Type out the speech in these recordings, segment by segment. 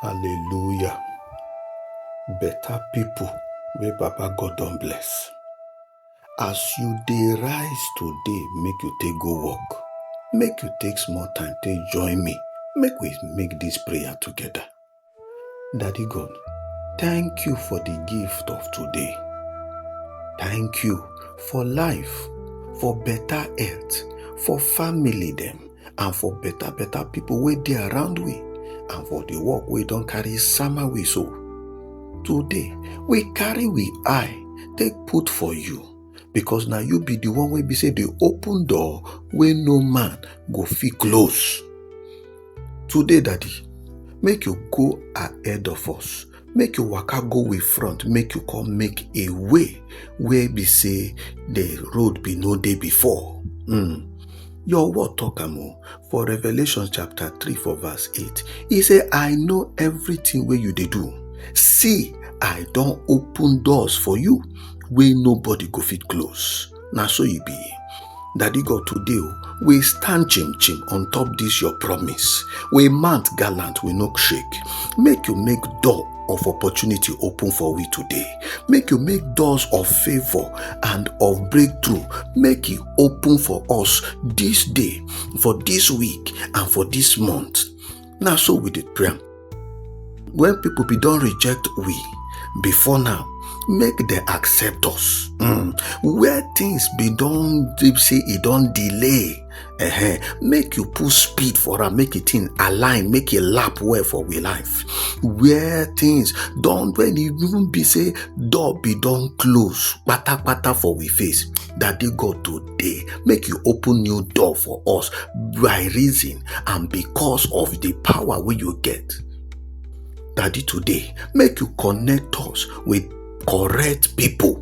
Hallelujah. Better people wey Baba God don bless. As you dey rise today, make you take go work. Make you take small time, take join me. Make we make this prayer together. Daddy God, thank you for the gift of today. Thank you for life, for better health, for family them. and for better better people wey dey around we and for the work wey don carry sama we so today we carry we eye take put for you because na you be the one wey be say dey open door wey no man go fit close today daddy make you go ahead of us make you waka go way front make you come make a way wey be say the road be no dey before mm. your word talk am o for revelation chapter 3 for verse 8 e say i know everything wey you dey do see i don open doors for you wey nobody go fit close na so e be daddy god today o we stand chim chim on top this your promise we mount gallant we no shake make you make door of opportunity open for we today make you make doors of favor and of breakthrough make e open for us this day for this week and for this month na so we dey pray am when people be don reject we before now make dem accept us mm. where things be don dey say e don delay uh-huh. make you put speed for am make e thing align make e lap well for we life where things don when e even be say door be don close patapata for we face that day god to day make you open new door for us by reason and because of the power wey you get daddy today make you connect us with correct people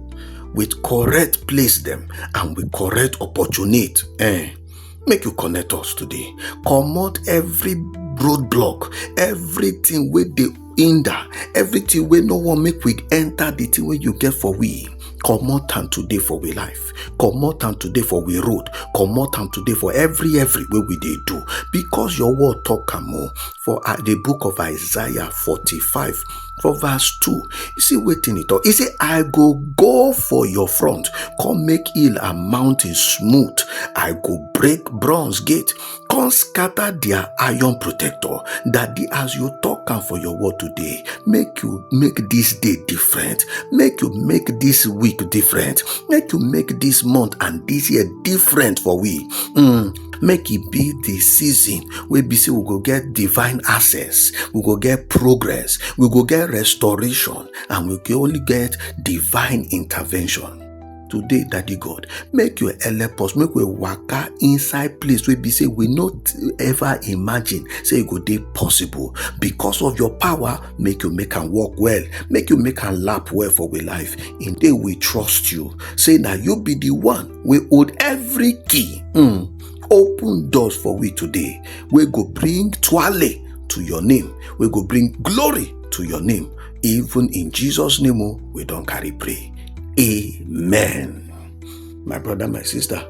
with correct place them and with correct opportunity eh make you connect us today comot every roadblock everything wey dey hinder everything wey no wan make we enter the thing wey you get for we comot am today for we life comot am today for we road comot am today for every every wey we dey do because your word talk am o for uh, the book of isaiah forty-five for verse two you see wetin e talk e say i go go for your front come make hill and mountain smooth i go break bronze gate come scatter their iron protector daddy as you talk am for your word today make you make this day different make you make this week different make you make this month and this year different for we mm, make e be the season wey be say we go get divine access we go get progress we go get restoration and we go only get divine intervention today daddy god make your help us make we waka inside place wey be say we no ever imagine say e go dey possible because of your power make you make am work well make you make am lap well for we life in day we trust you say na you be the one wey hold every key mm. open doors for we today wey go bring twale to your name wey go bring glory to your name Even in Jesus' name, oh, we don't carry pray. Amen. My brother, my sister,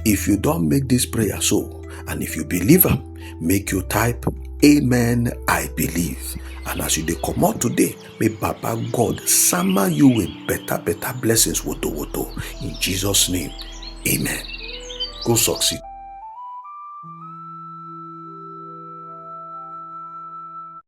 if you don't make this prayer so, and if you believe am, make you type Amen, I believe. And as you dey comot today, may Baba God summer you with better, better blessings, woto woto. In Jesus' name, Amen. Go succeed.